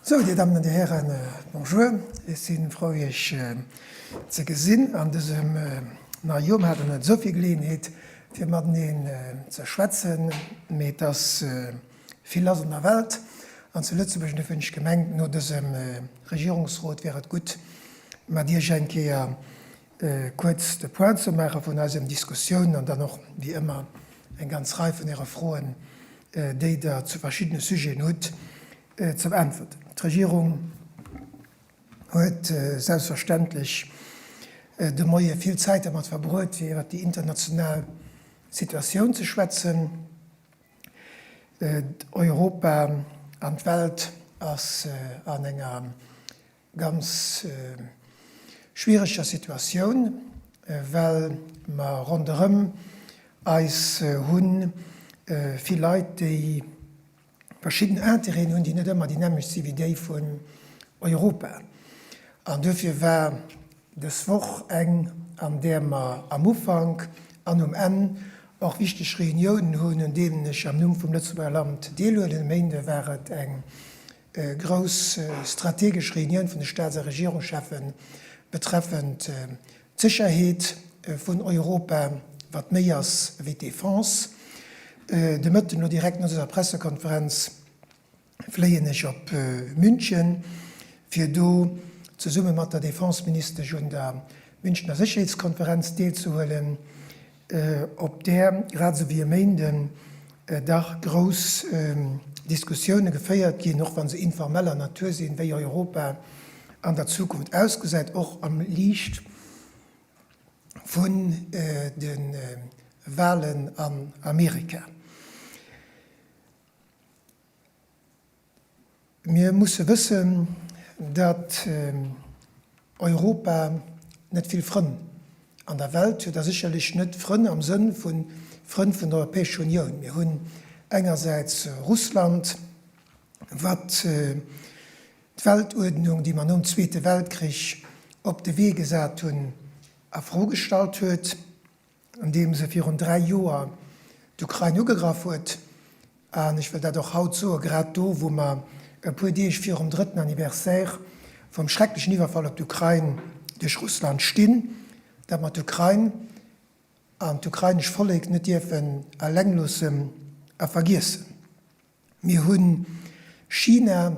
Sou, Dir Dammen an Dir Hären, bonjour. Ech si frou, Iech ze gesinn an dësem neie Joer. Mir haten net esou vill Geleeënheet, fir mateneen ze schwätzen, mee et ass, Vill ass an der Welt an zu Lëtzebuerg, an dofir hunn ech gemengt, no dësem Regierungsrot wär et gutt, mat Iech eng Kéier kuerz de Point ze maache vun eisen Diskussioun an dann och wéi ëmmer eng ganz Rei vun Äre Froen, déi Der zu verschiddene Sujeten hutt, ze beäntwerten. D'Regierung huet selbstverständlech de Moie vill Zäit dermat verbruet, fir iwwert déi international Situatioun ze schwätzen, Europa an d'Welt ass an enger ganz schwiereger Situatioun, well mer ronderëm eis hu vill Leit, déi verschidden Interêten hunn, déi net ëmmer déi nämmlecht si wéi déi vun Europa. An duerfir war Dës Woch eng, an där mer am Ufank an um Enn och wichteg Reuniounen hunn, un deenen ech am Numm vum Lëtzebuerger Land deelhuelen. E Méinde war et eng grouss strategesch Reunioun vun de Staats a Regierungscheffe betreffend d'Sécherheet vun Europa, wat méi ass ewéi d'Defense. De Mëtten, elo direkt no dëser Pressekonferenz, fléien ech op München, fir do zesumme mat der Defenseministesch un der Münchner Sécherheetskonferenz deelzehuelen, op där, grad esou wéi e Méinden, dach grouss Diskussioune geféiert ginn, och wa se informeller Natur sinn, wéi Europa an der Zukunft ausgesäit, och am Liicht vun de Wahlen an Amerika. Mir musse wëssen, datt Europa net vill Frënn an der Welt huet a sécherlech net Frënn am Sënn vu Frënn vun der Europäescher Unioun. Mir hunn engersäits Russland, wat d'Weltuerdnung, déi mer nom Zweete Weltkrich op de Wee gesat hunn, a Fro gestallt huet. andeems e virun dräi Joer d'Ukrain ugegraff huet, an ech wëll dat och haut soen, grad do, wou mer e puer Deeg virum drëtten Anniversaire vum schrecklechen Iwwerfall op d'Ukrain duerch Russland stinn, datt mer d'Ukrain an d'ukrainesch Vollek net dierfen eleng loossen a vergiessen. Mir hunn China,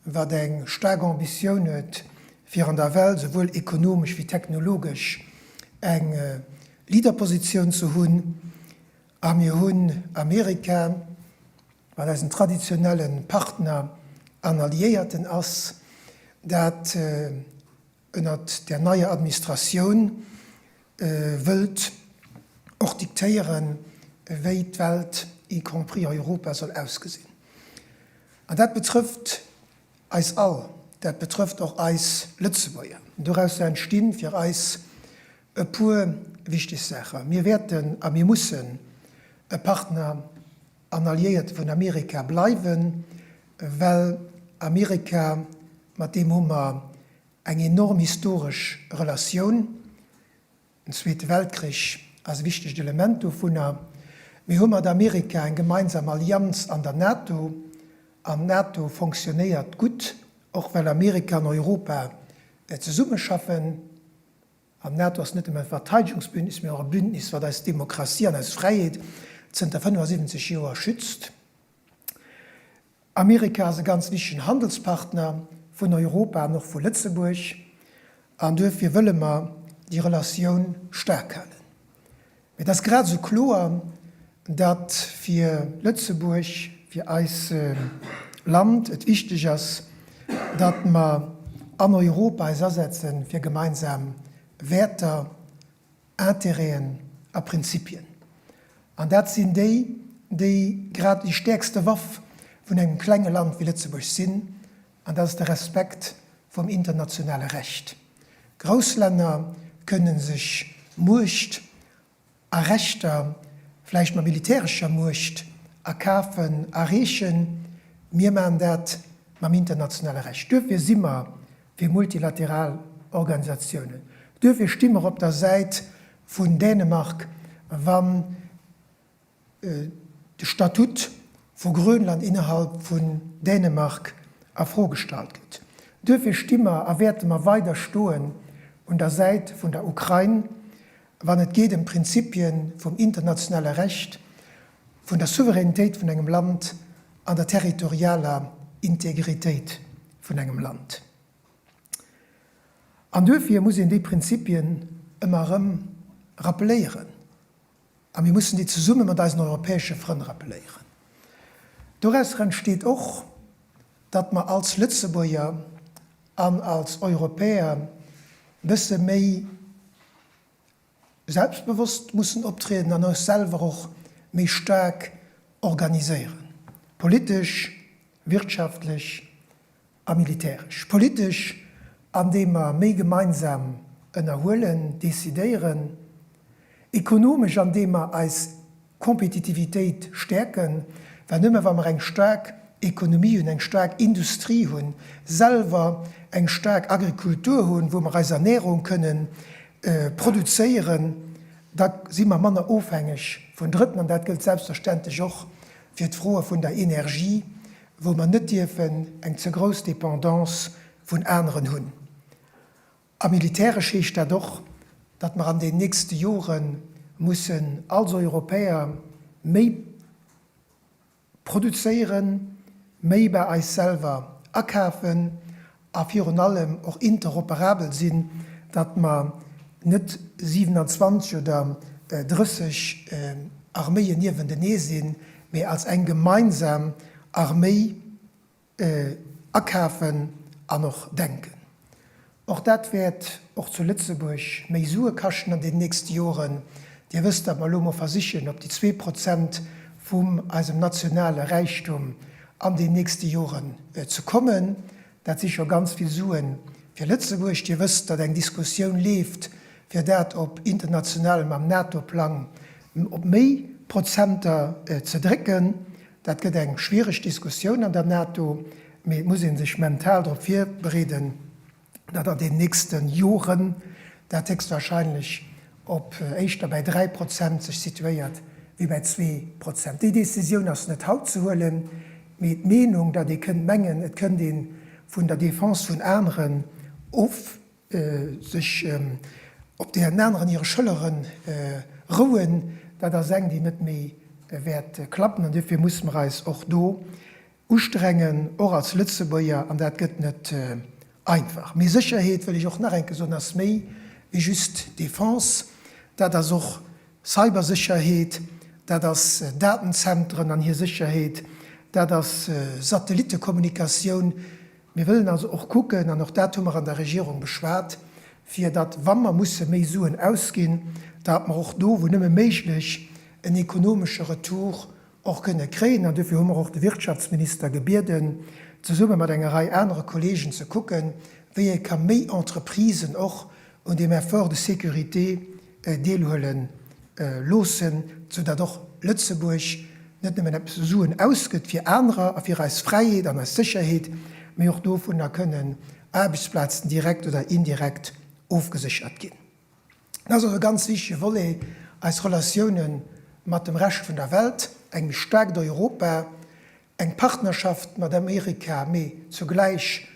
wat eng staark Ambitioun huet, fir an der Welt souwuel ekonomesch wéi technologesch eng Leaderpositioun ze hunn. A mir hunn Amerika, wat eisen traditionelle Partner an Alliéierten ass, dat ënnert där neier Administratioun wëllt och diktéieren, wéi d'Welt, y compris Europa, soll ausgesinn. An dat betrëfft eis all, dat betrëfft och eis Lëtzebuerger. Dorausser entsti fir eis e puer wichteg Saachen. Mir wäerten a mir mussen e Partner an Alliéierte vun Amerika bleiwen, well Amerika, mat deem hu mer eng enorm historesch Relatioun, den Zweete Weltkrich ass e wichtegt Element dovunner, mir hu mat Amerika eng gemeinsam Allianz an der NATO an d'NATO fonctionnéiert gutt, och well Amerika an Europa zesummeschaffen. An d'NATO ass net nëmmen e Verteidegungsbündnis, mee och e Bündnis, wat eis Demokratie an eis Fräiheet zënter 75 Joer schützt. Amerika ass e ganz wichtegen Handelspartner vun Europa an och vu Lëtzebuerg, an duerfir wëlle mer déi Relatioun staark halen. Mee et ass grad esou kloer, datt fir Lëtzebuerg, fir eis Land et wichteg ass, datt mer an Europa eis asetze fir gemeinsam Wäerter, Interêten a Prinzipien. An dat sinn déi, déi grad déi stäerkste Waff vun engem klenge Land wéi Lëtzebuerg sinn, An dat ass de Respekt vum internationale Recht. Grouss Länner kënne sech Muecht a Rechter, vläicht mat militärescher Muecht, erkafen, erreechen. Mir maachen dat mam internationale Recht. Duerfir si mer fir multilateral Organisatiounen. Duerfir sti mer op der Säit vun Dänemark, wann de Statut vu Grönland innerhalb vun Dänemark a Fro gestallt gëtt. Duerfir sti mer a wäerte mer weider stoen un der Säit vun der Ukrain, wann et geet ëm d'Prinzippie vum internationale Recht, vun der Souveränitéit vun engem Land an der territorialer Integritéit vun engem Land. An duerfir muss een déi Prinzippien ëmmer erëm rappeléieren. A mir mussen déi zesumme mat eisen europäesche Frënn rappeléieren. Dorausser entsteet och, datt mer als Lëtzebuerger an als Europäer e bësse méi selbstbewosst mussen optrieden an eis selwer och méi staark organiséieren, politesch, wirtschaftlech, A militäresch, politesch, andeem mer méi gemeinsam ënnerhuelen, decidéieren, ekonomesch, andeem mer eis Kompetitivitéit stäerken, well nëmme wa mer eng staark Ekonomie hunn, eng staark Industrie hunn, selwer eng staark Agrikultur hunn, wou mer eis Ernährung kënnen produzéieren, da si mer manner ofhängeg vun Drëtten. An dat gëllt selbstverständlech och fir d'Froe vun der Energie, wou mer net dierfen eng ze grouss Dépendance vun aneren hunn, a militäresch heescht dat och, datt mer an den nächste Jore mussen als Europäer méi produzéieren, méi bei eis selwer akafen. a virun allem och interoperabel sinn, datt mer net 27 oder 30 Arméien niewentenee sinn, mee als eng gemeinsam Arméi akafen an och denken. Och dat wäert och zu Lëtzebuerg méi Sue kaschten an den nächste Joren. Dir wësst, datt mer elo emol versichen, op déi zwee Prozent vum eisem nationale Räichtum an den nächste Joren ze kommen. Dat si scho ganz vill Sue fir Lëtzebuerg. Dir wësst, datt eng Diskussioun leeft, fir dat op internationalem, am NATO-Plang op méi Prozenter ze drécken. Dat gëtt eng schwiereg Diskussioun an der NATO, mee et muss ee sech mental drop virbereeden. datt an den nächste Joren dat héchstwahrscheinlech op éischter bäi dräi Prozent sech situéiert wéi bäi zwee Prozent. Déi Decisioun ass net haut ze huelen, mee d'Meenung, datt ee kënnt mengen, et kënnt ee vun der Defense vun aneren of, sech op deenen aneren hire Schëllere rouen, dat ass eng, déi net méi wäert klappen. An duerfir musse mer eis och do Ustrengen, och als Lëtzebuerger, an dat gëtt net einfach. Mee Sécherheet, wëll ech och nach enke soen, ass méi wéi just Defense. Dat ass och Cybersécherheet, dat ass Datenzentren an hir Sécherheet, dat ass Satellittekommunikatioun. Mir wëllen also och kucken, an och dat hu mer an der Regierung beschwat, fir datt, wa mer musse méi Suen ausginn, datt mer och do, wou nëmme méiglech, en ekonomesche Retour, och kënne kréien. An duerfir hu mer och de Wirtschaftsminister gebieden, zesumme mat enger Rei anere Kollegen ze kucken, wéi ee ka méi Entreprisen och un deem Effort de sécurité deelhuele loossen, sou datt och Lëtzebuerg net nëmmen eppes u Suen ausgëtt fir anerer a fir eis Fräiheet an eis Sécherheet, mee och dovunner kënnen Aarbechtsplazen direkt oder indirekt ofgeséchert ginn. Dat ass och e ganz wichtege Volet, eis Relatioune mat dem Rescht vun der Welt, eng méi staarkt Europa, eng Partnerschaft mat Amerika, mee zugläich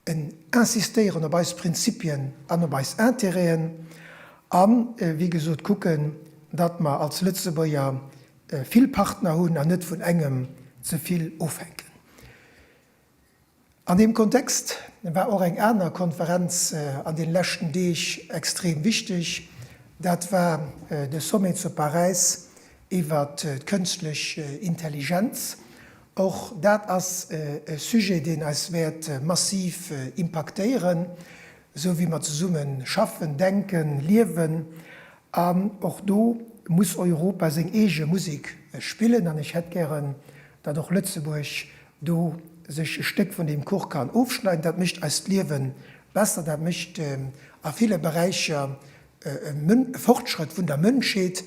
en Insistéieren op eis Prinzipien an op eis Intérêten a wéi gesot kucken, datt mer als Lëtzebuerger vill Partner hunn an net vun engem ze vill ofhänken. An deem Kontext war och eng aner Konferenz an den leschten Deeg extrem wichteg, dat war de Sommet zu Paräis iwwert d'Kënschtlech Intelligenz. Och dat ass e Sujet deen eis wäert massiv impaktéieren, sou wéi mer zesumme schaffen, denken, liewen. An och do muss Europa seng eege Musek spillen an ech hätt gären, datt och Lëtzebuerg do sech e Stéck vun deem Kuch kann ofschneiden. Dat mécht eist Liewe besser, dat mécht a ville Beräicher e Fortschrëtt vun der Mënschheet,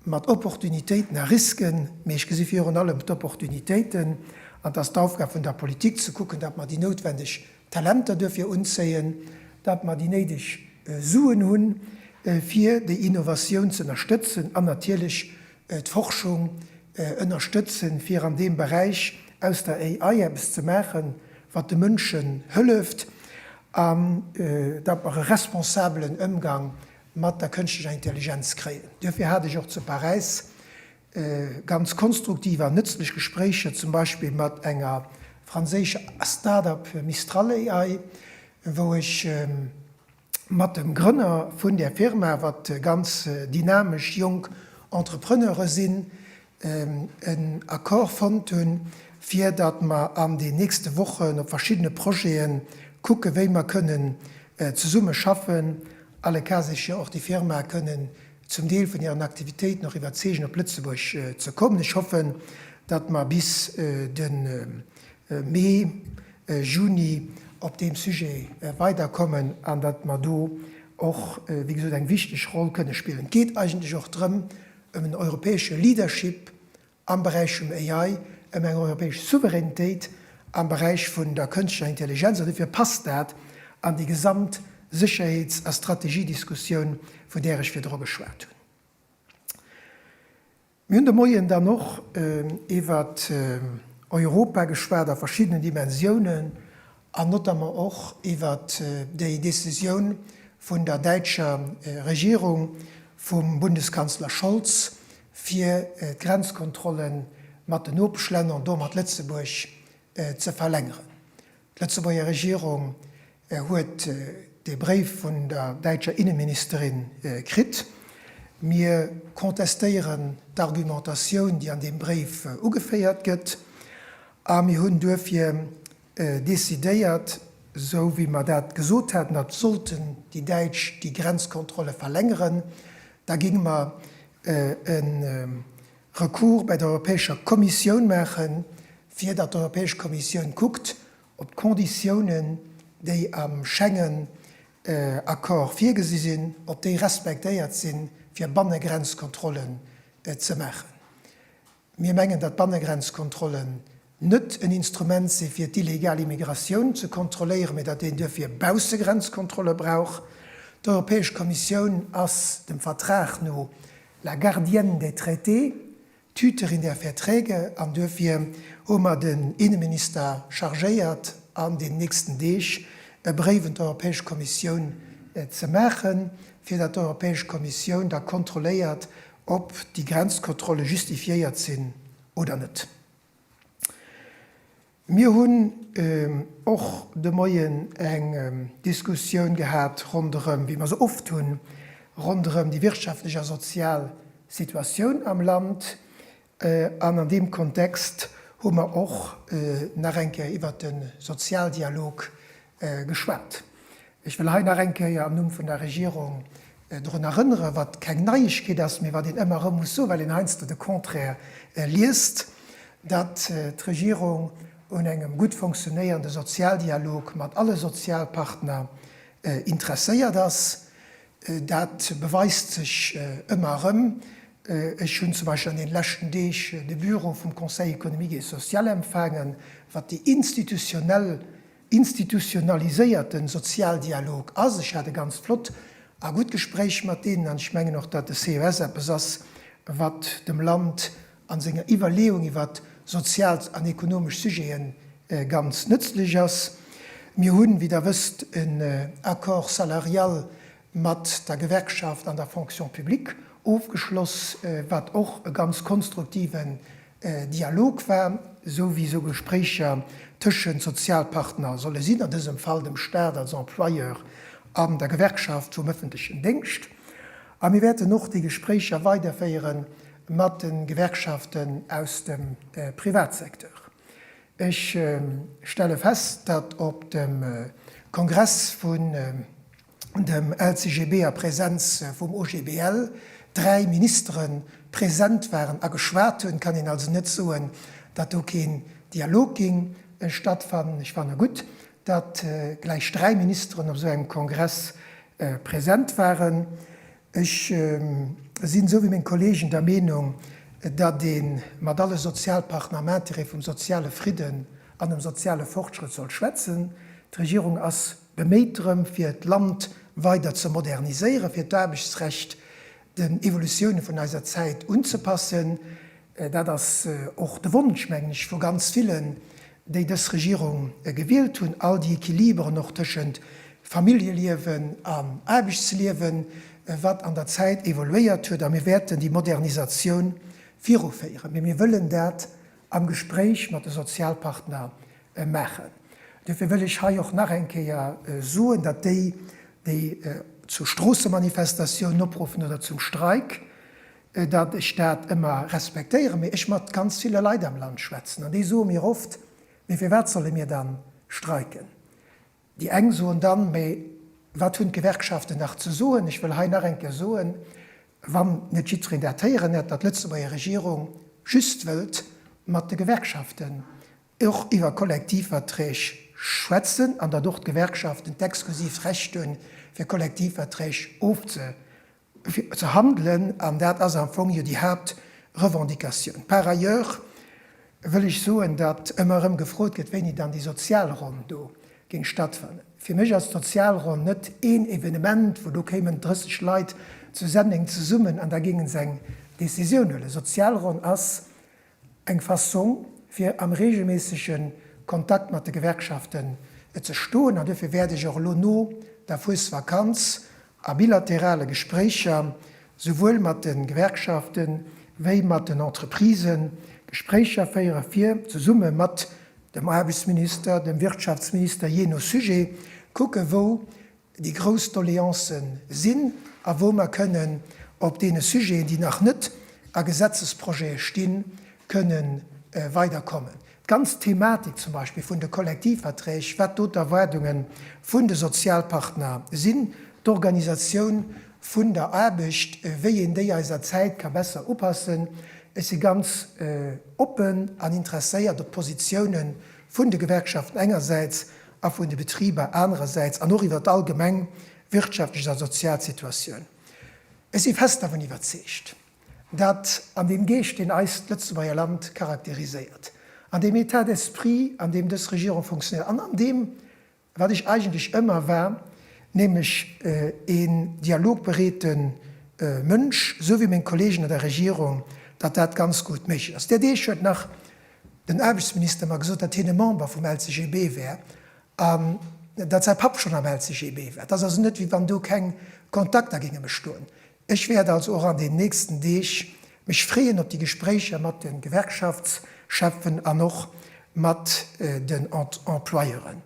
mat Opportunitéiten a Risken, mee ech gesi virun allem d'Opportunitéiten. An et ass d'Aufgab vun der Politik ze kucken, datt mer déi noutwendeg Talenter duerfir unzéien, datt mer déi néideg Suen hunn, fir déi Innovatioun z'ënnerstëtzen an natierlech d'Forschung ënnerstëtzen, fir an deem Beräich aus der AI eppes ze maachen, wat de Mënschen hëlleft, an datt mer e responsabelen Ëmgang mat der kënschtlecher Intelligenz kréien. Duerfir hat ech och zu Paräis ganz konstruktiv an nëtzlech Gespréicher zum Beispill mat enger franséischer Start-up Mistral AI, wou ech mat dem Grënner vun där Firma, wat ganz dynamesch jonk Entrepreneure sinn, en Accord fonnt hunn, fir datt mer an den nächste Wochen op verschiddene Projete kucke wéi mer kënnen zesumme schaffen, alle cas échéant och déi Firma kënnen zum Deel vun hiren Aktivitéiten och iwwerzeegen op Lëtzebuerg ze kommen. Ech hoffen, datt mer bis de Mee, Juni op deem Sujet weiderkommen an datt mer do och, wéi gesot, eng wichteg Roll kënne spillen. Et geet eigentlech och drëm, ëm en europäesche Leadership am Beräich vum AI, ëm eng europäesch Souveränitéit am Beräich vun der kënschtlecher Intelligenz, an dofir passt dat an déi gesamt Sécherheets a Strategiediskussioun, vun där ech virdru geschwat hunn. Mir hunn de Moien dann och iwwert Europa geschwat a verschiddenen Dimensiounen an notamment och iwwert déi Decisioun vun der däitscher Regierung, vum Bundeskanzler Scholz, fir d'Grenzkontrolle mat den Nopeschlänner an domat Lëtzebuerg ze verlängeren. D'Lëtzebuerger Regierung E huet dee Bréif vun der däitscher Inneministerin kritt. Mir contestéieren d'Argumentatioun, déi an deem Bréif ugeféiert gëtt, a mir hunn duerfir decidéiert, esou wéi mer dat gesot haten, datt sollten déi Däitsch déi Grenzkontrolle verlängeren, da géinge mer e Recours bei der Europäescher Kommissioun maachen, fir datt d'Europäesch Kommissioun kuckt, op d'Conditiounen, déi am Schengen-Accord virgesi sinn, ob déi respektéiert sinn, fir Bannegrenzkontrollen ze maachen. Mir mengen, datt Bannegrenzkontrollen net en Instrument si fir d'illegal Immigratioun ze kontrolléieren, mee datt een duerfir Baussegrenzkontrolle brauch. D'Europäesch Kommissioun ass dem Vertrag no la gardienne des traités, Tüter in der Verträge an duerfir hu mer den Inneminister chargéiert an den nächsten Deeg e Bréif un d'Europäesch Kommissioun ze maachen, fir datt d'Europäesch Kommissioun da kontrolléiert, ob déi Grenzkontrolle justifiéiert sinn oder net. Mir hunn och de Moien eng Diskussioun gehat ronderëm, wéi mer se oft hunn, ronderëm déi wirtschaftlech a sozial Situatioun am Land. An an deem Kontext hu mer och nach eng Kéier iwwert de Sozialdialog geschwat. Ech wëll hei nach eng Kéier am Numm vun der Regierung drun erënneren, wat keng Neiegkeet ass, mee wat een ëmmer erëm muss soen, well een heiansdo de Contraire liest, datt d'Regierung un engem gutt fonctionéierende Sozialdialog mat alle Sozialpartner interesséiert ass. Dat beweist sech ëmmer erëm. Ech hunn zum Beispill an deene leschten Deeg de Büro vum Conseil économique et social empfaangen, wat déi institutionell institutionaliséierten Sozialdialog ass. Ech hat e ganzt flott a gutt Gespréich mat deenen an ech mengen och, datt de CES eppes ass, wat dem Land a senger Iwwerleeung iwwer sozial an ekonomesch Sujete ganz nëtzlech ass. Mir hunn, wéi Der wësst, en Accord salarial mat der Gewerkschaft an der Fonction publique ofgeschloss, wat och e ganz konstruktiven Dialog war, esou wéi esou Gespréicher tëschent Sozialpartner solle sinn, a dësem Fall dem Staat als Employeur an der Gewerkschaft vum ëffentlechen Déngscht. A mir wäerten och déi Gespréicher weiderféiere mat de Gewerkschaften aus dem Privatsecteur. Ech stelle fest, datt op dem Kongress vun. dem LCGB a Präsenz vum OGBL dräi Ministere präsent waren a geschwat hunn, kann een also net soen, datt do keen Dialog géing stattfannen. Ech fanne gutt, datt gläich dräi Ministeren op esou engem Kongress präsent waren. Ech sinn, esou wéi meng Kolleegen, der Meenung, datt ee mat alle Sozialpartner am Intérêt vum soziale Fridden an dem soziale Fortschrëtt soll schwätzen. D'Regierung ass Beméit drëm, fir d'Land weider ze moderniséieren, fir d'Aarbechtsrecht den Evolutioune vun eiser Zäit unzepassen. Dat ass och de Wonsch, mengen ech, vu ganz villen, déi dës Regierung gewielt hunn, all déi Equiliberen och tëschent Familljeliewen an Aarbechtsliewen, wat an der Zäit evoluéiert huet. A mir wäerten déi Modernisatioun viruféieren. Mee mir wëllen dat am Gespréich mat de Sozialpartner maachen. Duerfir wëll ech hei och nach eng Kéier soen, datt déi, déi zu Stroossemanifestatiounen opruffen oder zum Streik, datt ech dat ëmmer respektéieren, mee ech mat ganz ville Leit am Land schwätzen an déi soe mir oft, mee firwat solle mir da streiken? Déi eng soen dann, mä wat hunn d'Gewerkschaften nach ze soen? Ech wëll hei nach eng Kéier soen, wann net jiddwereen dat héieren hätt, datt d'Lëtzebuerger Regierung just wëllt mat de Gewerkschaften och iwwer Kollektivverträg schwätzen an datt och d'Gewerkschaften d'exklusiivt Recht hunn, fir Kollektivverträg ofzeschléissen. fir ze handelen, an dat ass am Fong jo déi Haaptrevendicatioun. Par ailleurs wëll ech soen, datt ëmmer erëm gefrot gëtt, wéini dann déi Sozialronn do géing stattfannen. Fir mech ass d'Sozialronn net een Evenement, wou do kéimen 30 Leit zu Senneng zesummen an da géinge se eng Décisioun huelen. Sozialronn ass Eng Fassong fir am reegelméissege Kontakt mat de Gewerkschaften ze stoen an duerfir wäert ech och elo no der Fuesvakanz a bilaterale Gespréicher souwuel mat de Gewerkschafte wéi mat den Entreprisë Gespréicher féiere fir zesumme mat dem Aarbechtsminister, dem Wirtschaftsminister, jee no Sujet, kucke wou déi grouss Doleancë sinn a wou mer kënnen op deene Sujeten, déi nach net a Gesetzesprojete stinn, kënne weiderkommen. D'ganz Thematik zum Beispill vun de Kollektivverträg, wat do d'Erwaardunge vun de Sozialpartner sinn, d'Organisatioun vun der Aarbecht, wéi een déi eiser Zäit ka besser upassen. Ech si ganz oppen an interesséiert op d'Positiounen vun de Gewerkschaften engersäits a vun de Betriber anerersäits an och iwwer d'allgemeng wirtschaftlech a sozial Situatioun. Ech si fest dervun iwwerzeegt, datt an deem Geescht, deen eist Lëtzebuerger Land charakteriséiert, an deem État d'esprit, an deem dës Regierung funktionéiert an an deem, wat ech eigentlech ëmmer war, nämlech een dialogbereete Mënsch, esou wéi meng Kollegen an der Regierung, datt dat ganz gutt méiglech ass. Där Deeg huet nach Den Aarbechtsminister mer gesot, datt hien e Member vum LCGB wär an datt säi Papp schonn am LCGB war. Et ass also net, wéi wann do keng Kontakter géinge bestoen. Ech wäert also och an den nächsten Deeg mech freeën op déi Gespréicher mat de Gewerkschaftscheffen an och mat den Employeuren.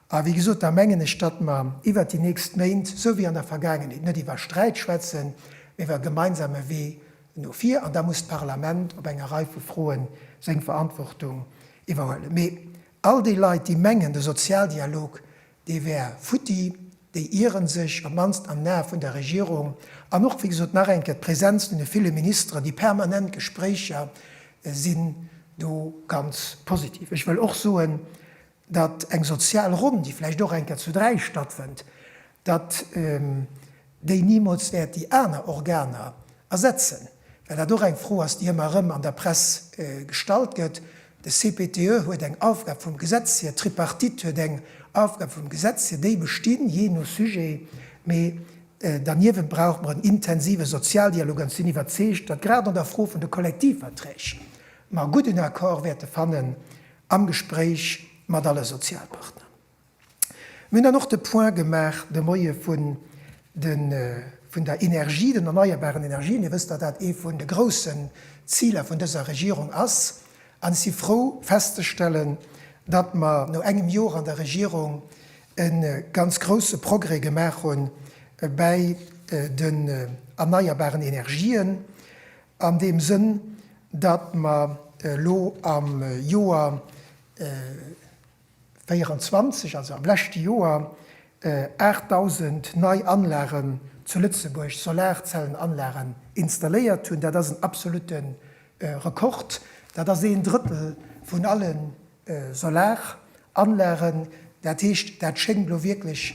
A wéi gesot, da mengen ech, datt mer iwwert déi nächst Méint, esou wéi an der Vergaangenheet, net iwwer Sträit schwätzen, mee iwwer e gemeinsame Wee no vir an da muss d'Parlament op enger Rei vu Froen seng Verantwortung iwwerhuelen. Mee all déi Leit, déi mengen, de Sozialdialog, dee wär futti, déi ieren sech, op d'mannst an den Ae vun der Regierung. An och, wéi gesot, nach eng Kéier, d'Präsenz vun de ville Ministeren, déi permanent Gespréicher sinn do ganz positiv. Ech wëll och soen, datt eng sozial Ronn, déi vläicht och eng Kéier zu dräi stattfënnt, datt déi nimools wäert déi aner Organer ersetzen, well dat och eng Fro ass, déi ëmmer erëm an der Press gestallt gëtt. De CPTE huet eng Aufgab vum Gesetz hier, d'Tripartite huet eng Aufgab vum Gesetz hier, déi bestinn, jee no Sujet, mee derniewent brauche mer en intensive Sozialdialog an ech sinn iwwerzeegt, datt grad an der Fro vun de Kollektivverträg mer e gudden Accord wäerte fannen am Gespréich mat alle Sozialpartner. Mir hunn dann och de Point gemaach de Moie vun de vun der Energie, den erneierbaren Energien. Dir wësst, datt dat ee vun de groussen Ziler vun dëser Regierung ass. An ech si frou festzestellen, datt mer no engem Jor an der Regierung e ganz grousse Progrès gemaach hu bäi den erneierbaren Energien. An deem Sënn, datt mer elo am Joer 2024, also am leschte Joer, 8.000 nei Anlagen zu Lëtzebuerg, Solarzellenanlagen, installéiert hunn, dat ass en absolutte Rekord, dat ass een Drëttel vun allen Solaranlagen, dat heescht, dat schéngt elo wierklech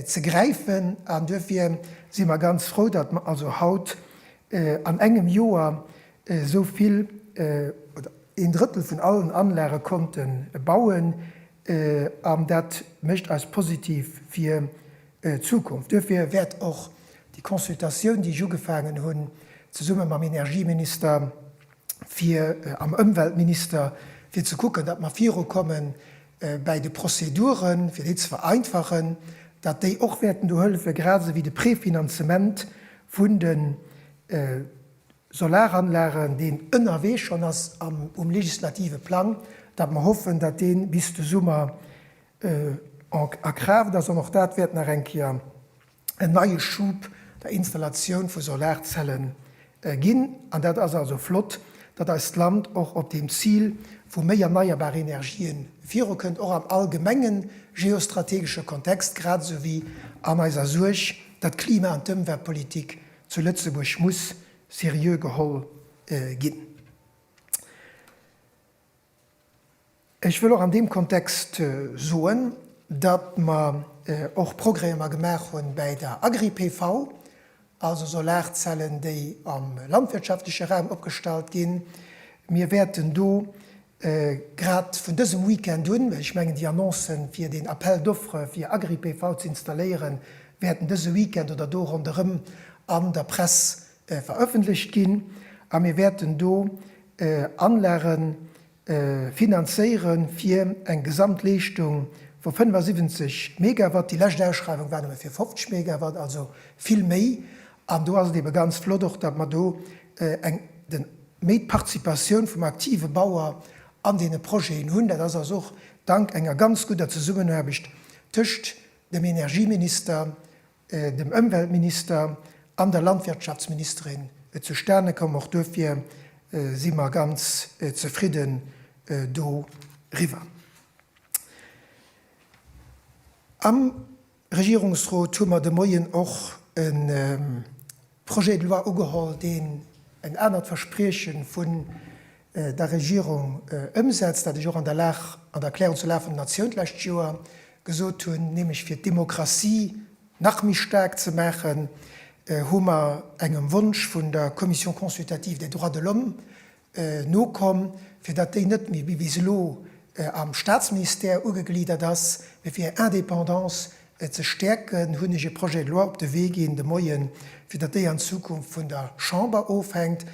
ze gräifen. An duerfir si mer ganz frou, datt mer also haut an engem Joer esou vill oder een Drëttel vun allen Anlage konnte bauen. An dat mécht eis positiv fir d'Zukunft. Duerfir wäert och déi Consultatioun, déi ech ugefaangen hunn, zesumme mam Energieminister, fir am Ëmweltminister, fir ze kucken, datt mer virukomme bäi de Prozeduren, fir déi ze vereinfachen, datt déi och wäerten do hëllefen, grad esou wéi de Prefinanzement vun de Solaranlagen, deen ënnerwee schonn ass um legislative Plang, datt mer hoffen, datt dee bis de Summer a Kraaft ass an och dat wäert nach eng Kéier en neie Schub der Installatioun vu Solarzelle ginn. An dat ass also flott, datt eist Land och op deem Zil vu méi erneierbare Energien virukënnt, och am allgemenge geostrategesche Kontext, grad esou wéi an eiser Suerg, datt d'Klima an d'Ëmweltpolitik zu Lëtzebuerg muss seriö geholl ginn. Ech wëll och an deem Kontext soen, datt mer och Progrèmer gemaach hu bäi der Agri-PV, also Solarzellen, déi am landwirtschaftleche Raum opgestallt ginn. Mir wäerten do grad vun dësem Weekend un, well ech mengen déi Annonce fir deen Appel d'offres fir Agri-PV ze installéieren, wäerten dëse Weekend oder do ronderëm an der Press verëffentlecht ginn a mir wäerten do Anlage finanzéieren, fir eng Gesamtleeschtung vu 75 Megawatt. Déi lescht Ausschreiwung war nëmme fir 50 Megawatt, also vill méi. An do ass et eebe ganz flott och, datt mer do eng den méi d'Participatioun vum aktive Bauer an deene Projeten hunn. Dat ass also och dank enger ganz gudder Zesummenaarbecht tëscht dem Energieminister dem Ëmweltminister an der Landwirtschaftsministerin zustane komm. Och duerfir si mer ganz zefridden doriwwer. Am Regierungsrot hu mer de Moien och e. Projet de loi ugeholl, deen en anert Versprieche vun der Regierung ëmsetzt, dat ech och an der Lag, an der Erklärung zur Lag vun der Natioun d'lescht Joer gesot hunn, nämlech fir d'Demokratie nach méi staark ze maachen, hu mer engem Wonsch vun der Commission consultative des droits de l'homme Nokomm, fir datt déi net méi wéi bis elo am Staatsministère ugegliedert ass, mee fir hir Indépendance ze stäerken, hunn ech e Projet de loi op de Wee ginn de Moien, fir datt déi an Zukunft vun der Chamber ofhänkt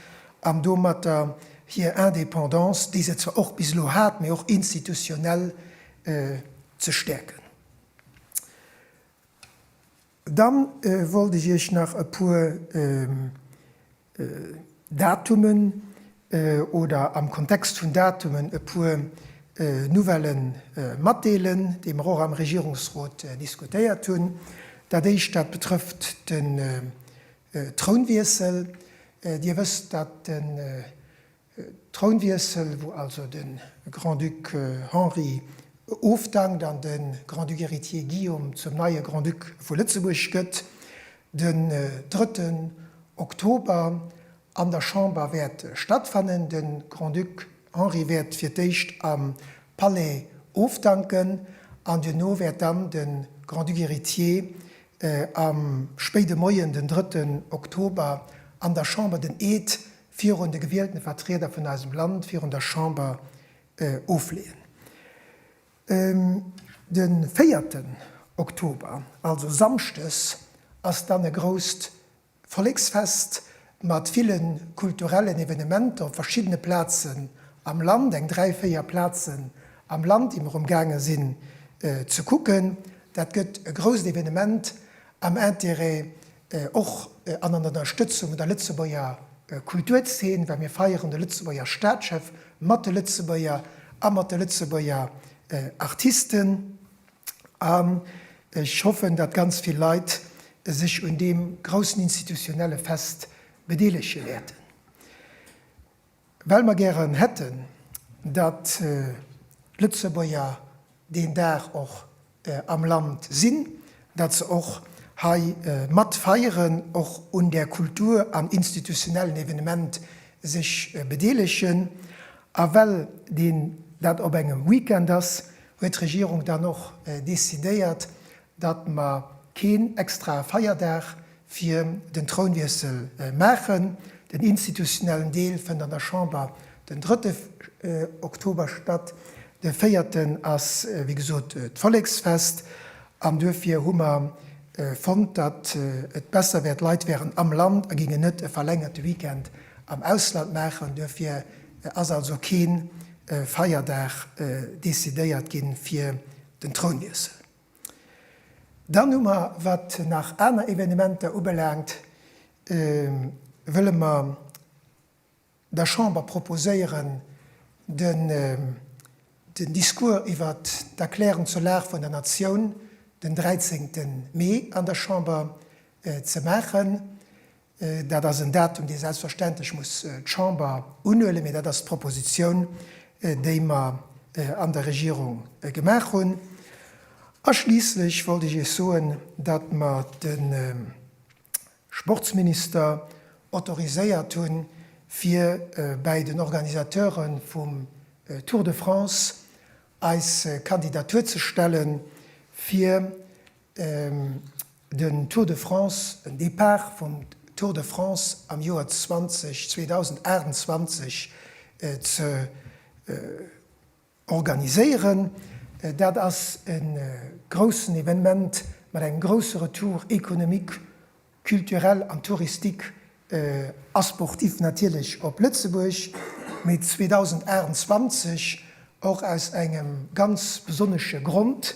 an domatter hir Indépendance, déi se zwar och bis elo hat, mee och institutionnel ze stäerken. Dann wollt ech iech nach e puer Datumen oder am Kontext vun Datumen e puer Nouvelle matdeelen, déi mer och am Regierungsrot diskutéiert hunn. Dat éischt, dat betrëfft den Trounwiessel. Dir wësst, dat de Trounwiessel, wou also de Grand-Duc Henri ofdankt an de Grand-Duc héritier Guillaume zum neie Grand-Duc vu Lëtzebuerg gëtt, den drëtten Oktober an der Chamber wäert stattfannen. De Grand-Duc Henri wäert fir d'éischt am Palais ofdanken an duerno wäert dann de Grand-Duc héritier am spéide Moien, den drëtten Oktober, an der Chamber den Eed virun de gewielten Vertrieder vun eisem Land, virun der Chamber ofleeën. De véierten Oktober, also Samschdes, ass dann e grousst Volleksfest mat ville kulturellen Evenementer op verschiddene Plazen am Land, eng dräi, véier Plazen am Land, déi mer um gaange sinn ze kucken. Dat gëtt e grousst Evenement am Intérêt och an an Ënnerstëtzung der Lëtzebuerger Kulturzeen, well mir feieren de Lëtzebuerger Staatschef mat de Lëtzebuerger a mat de Lëtzebuerger Artisten. An ech hoffen, datt ganz vill Leit sech un deem groussen institutionelle Fest bedeelege wäerten. Well mer gären hätten, datt d'Lëtzebuerger deen Dag och am Land sinn, datt se och hei mat feieren, och un där Kultur an institutionellen Evenement sech bedeelegen. A well deen dat op engem Weekend ass, huet d'Regierung dann och decidéiert, datt mer keen extrae Feierdag fir den Trounwiessel maachen. Den institutionellen Deel fënnt an der Chamber den drëtte Oktober statt. De véierten ass wéi gesot d'Volleksfest an duerfir hu mer fonnt, datt et besser wär, d'Leit wären am Land a géingen net e verlängerte Weekend am Ausland maachen. Duerfir ass also kee Feierdag decidéiert gi fir den Trounwiessel. Dann hu mer, wat nach aner Evenementer ubelaangt, wëlle mer der Chamber proposéieren, den Discours iwwer d'Erklärung zur Lag vun der Natioun den 13 Mee an der Chamber ze maachen. Dat ass en Datum, dee selbstverständlech muss d'Chamber unhuelen, mee dat ass d'Proposition, déi mer an der Regierung gemaach hunn. A schliisslech wollt ech Iech soen, datt mer de Sportsminister autoriséiert hunn, fir bäi den Organisateure vum Tour de France eis Kandidatur ze stellen, fir Den Tour de France, den Depart vum Tour de France am Joer 2028 ze organiséieren, dat ass e groussen Evenement mat engem grousse Retour économique, culturel an touristique A sportif natierlech op Lëtzebuerg, mee 2028 och aus engem ganz besonnesche Grond,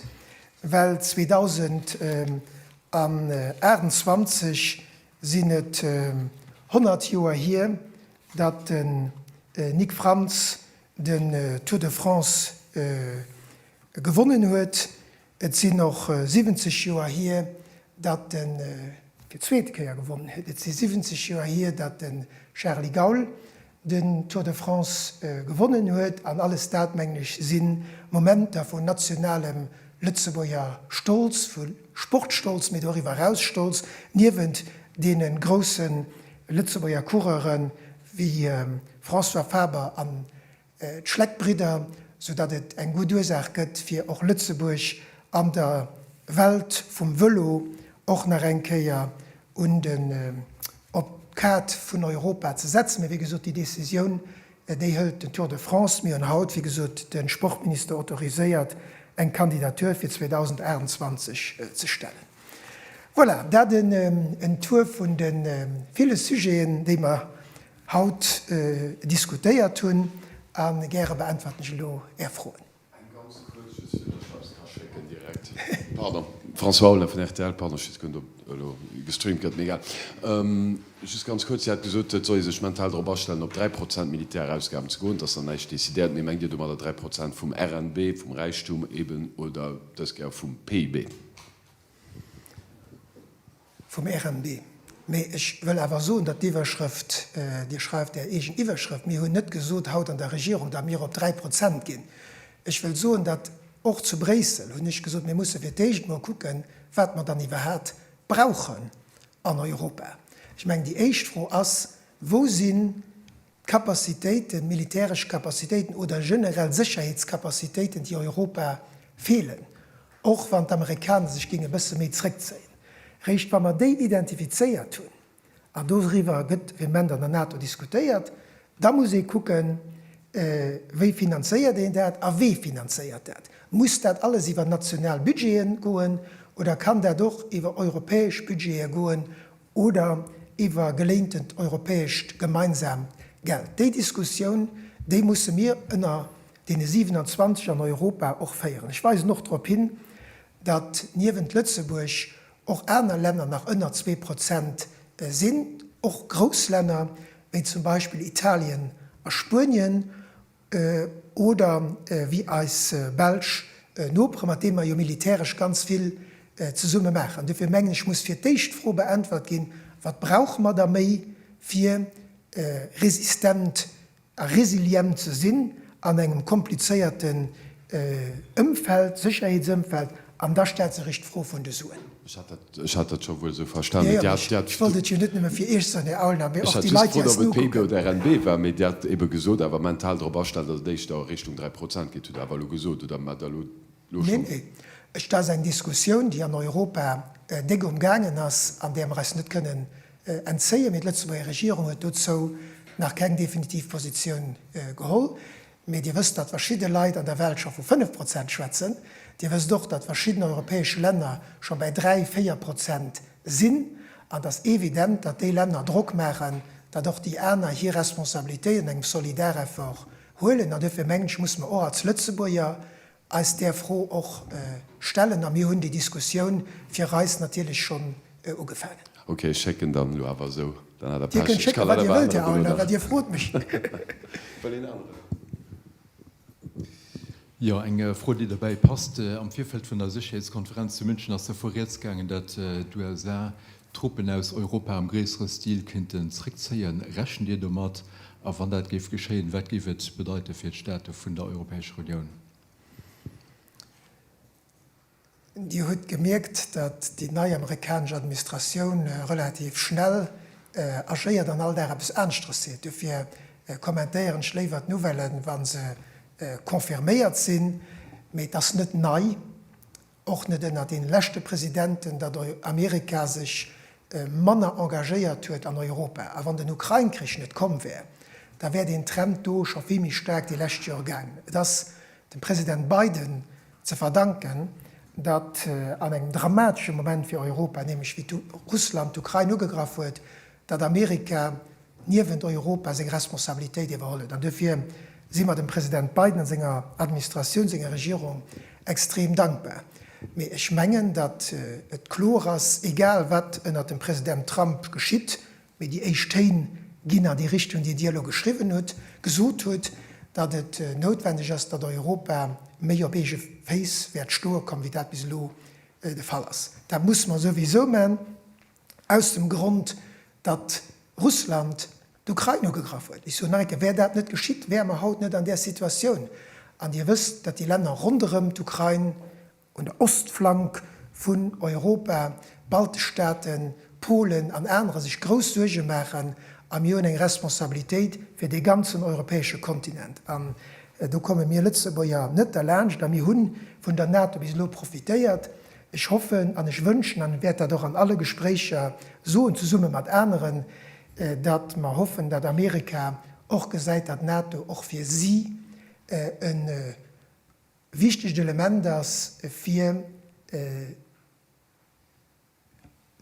well 2028 sinn et 100 Joer hier, datt de Nic Frantz den Tour de France gewonnen huet. Et sinn och 70 Joer hier, datt e fir d'zweet Kéier gewonnen huet. Et si 70 Joer hier, datt de Charly Gaul den Tour de France gewonnen huet. An alles dat, mengen ech, si Momenter vu nationalem Lëtzebuerger Stolz, vu Sportstolz, mee doriwwer eraus Stolz, niewent deene grousse Lëtzebuerger Coureure wéi François Faber an d'Schleck-Bridder, sou datt et eng gutt Ursaach gëtt fir och Lëtzebuerg an der Welt vum Vëlo och nach eng Kéier un den, op d'Kaart vun Europa ze setzen. Mee wéi gesot, déi Décisioun, déi hëlt den Tour de France. Mir hunn haut, wéi gesot, de Sportminister autoriséiert, eng Kandidatur fir 2028 ze stellen. Voilà, dat en Tour vun de ville Sujeten, déi mer Haut diskutéiert hunn. A gäre beäntwerten ech elo Är Froen. Eng ganz kuerz, just fir dass ech eppes ka schécken direkt. Pardon, François Aulner vun rtl. Pardon, ech weess guer net, ob elo gestreamt gëtt, mee egal. Just ganz kuerz, Dir hat gesot, et soll ee sech mental drop astellen, op 3 Prozent Militärausgaben ze goen. Et ass nach näischt decidéiert, mee mengt Dir domadder 3 Prozent vum RNB, vum Räichtum eben, oder dës Kéier vum PIB? Vum RMB. Mee ech wëll awer soen, datt d'Iwwerschrëft, Dir schreift Är eegen Iwwerschrëft, mir hunn net gesot haut an der Regierung, datt mir op dräi Prozent ginn. Ech wëll soen, datt och zu Bréissel hunn ech gesot, mir musse fir d'éischt emol kucken, wat mer dann iwwerhat brauchen an Europa. Ech mengen, déi éischt Fro ass, Wou sinn. D'Kapazitéiten, militäresch Kapazitéiten oder generell Sécherheetskapazitéiten, déi Europa feelen, och wann d'Amerikaner sech géinge bësse méi zréckzéien, eréischt wa mer déi identifizéiert hunn, an doriwwer gëtt vehement an der NATO diskutéiert, da muss ee kucken, wéi finanzéiert een dat a wee finanzéiert dat. Muss dat alles iwwer national Budgete goen oder kann dat och iwwer europäesch Budgete goen? oder iwwer geléintent europäescht gemeinsaamt Geld, déi Diskussioun, déi musse mir ënner deene 27 an Europa och féieren. Ech weisen och drop hin, datt niewent Lëtzebuerg och aner Länner nach ënner zwee Prozent sinn, och grouss Länner wéi zum Beispill Italien a Spuenien, Oder wéi eis belsch Nopere, mat deem mer jo militäresch ganz vill zesumme maachen. An dofir mengen ech, muss fir d'éischt d'Fro beäntwert ginn, Wat brauche mer da méi, fir resistent a resilient ze sinn an engem komplizéierte Ëmfeld, Sécherheetsëmfeld, an da stellt sech erech d'Fro vun de Suen. Ech hat dat scho wuel esou verstanen. Jo, jo, ech wollt et jo net nëmme fir Iech soen, Här Aulner, mee och déi Leit, déi eis nokucken. Ech hat just gefrot, ob et PIB oder RNB war, mee Dir hat eebe gesot, awer mental drop astellen, datt et éischter a Richtung dräi Prozent geet, hutt Der awer elo gesot, oder mar Der elo elo schonn. Nee, nee, et ass eng Diskussioun, déi an Europa déck um gaangen ass an där mer eis net kënnen entzéien, mee d'Lëtzebuerger Regierung huet dozou nach keng definitiv Positioun geholl. Mee Dir wësst, datt verschidde Leit an der Welt scho vu 5 Prozent schwätzen. Dir wësst och, datt verschidden europäesch Länner scho bäi 3, 4 Prozent sinn. An et ass evident, datt déi Länner Drock maachen, datt och déi aner hir Responsabilitéit an engem Solidareffort huelen. An duerfir mengen ech, musse mer och als Lëtzebuerger eis där Fro och stellen a mir hunn déi Diskussioun fir eis natierlech schonn ugefaangen. Ok, ech schécken dann elo awer esou. Dann hat Der Pech, ech kann leider bei aneren Dono nach. Dir frot mech. Wëll een aneren? Jo, eng Fro, déi dobäi passt. Am Virfeld vun der Sécherheetskonferenz zu München ass dervu rieds gaangen, datt d'USA Truppen aus Europa am gréissere Stil kéinten zréckzéien. Rechent Dir domat? A wann dat géif geschéien, wat géif et bedeite fir d'Staate vun der Europäescher Unioun? Dir hutt gemierkt, datt déi nei amerikanesch Administratioun relativ schnell agéiert an all Dag eppes aneschteres seet. Dofir kommentéieren ech léiwer d'Nouvellen, wa se confirméiert sinn. Mee et ass net nei. Och net ënnert den leschte Presidenten, datt Amerika sech manner engagéiert huet an Europa. A wann den Ukrain-Krich net komm wär, da wär deen Trend do scho vill méi staark déi lescht Joer gaangen. Et ass dem President Biden ze verdanken, datt an engem dramatesche Moment fir Europa, nämlech wéi Russland d'Ukrain ugegraff huet, datt Amerika niewent Europa seng Responsabilitéit iwwerholl huet. An duerfir si mer dem President Biden a senger Administratioun, senger Regierung extrem dankbar. Mee ech mengen, datt et kloer ass, egal wat ënnert dem President Trump geschitt, mee déi éischt Téin ginn an déi Richtung, déi Dir elo geschriwwen hutt, gesot hutt, datt et noutwendeg ass, datt Europa méi op eege Féiss wäert stoe kommen, wéi dat bis elo de Fall ass. Dat musse mer souwisou man. aus dem Grond, datt Russland d'Ukrain ugegraff huet. Ech soen nach eng Kéier, wär dat net geschitt, wäre mer haut net an där Situatioun. An Dir wësst, datt déi Länner ronderëm d'Ukrain, un der Ostflank vun Europa, d'baltesch Staaten, Polen an anere sech grouss Suerge maachen. A mir hunn eng Responsabilitéit fir dee ganzen europäesche Kontinent. An do komme mir Lëtzebuerger net derlaanscht. A mir hu vun der NATO bis elo profitéiert, Ech hoffen an ech wënschen, an wäert dat och an alle Gespréicher soen, zesumme mat aneren, datt mer hoffen, datt Amerika och gesäit, datt d'NATO och fir si e wichtegt Element ass, fir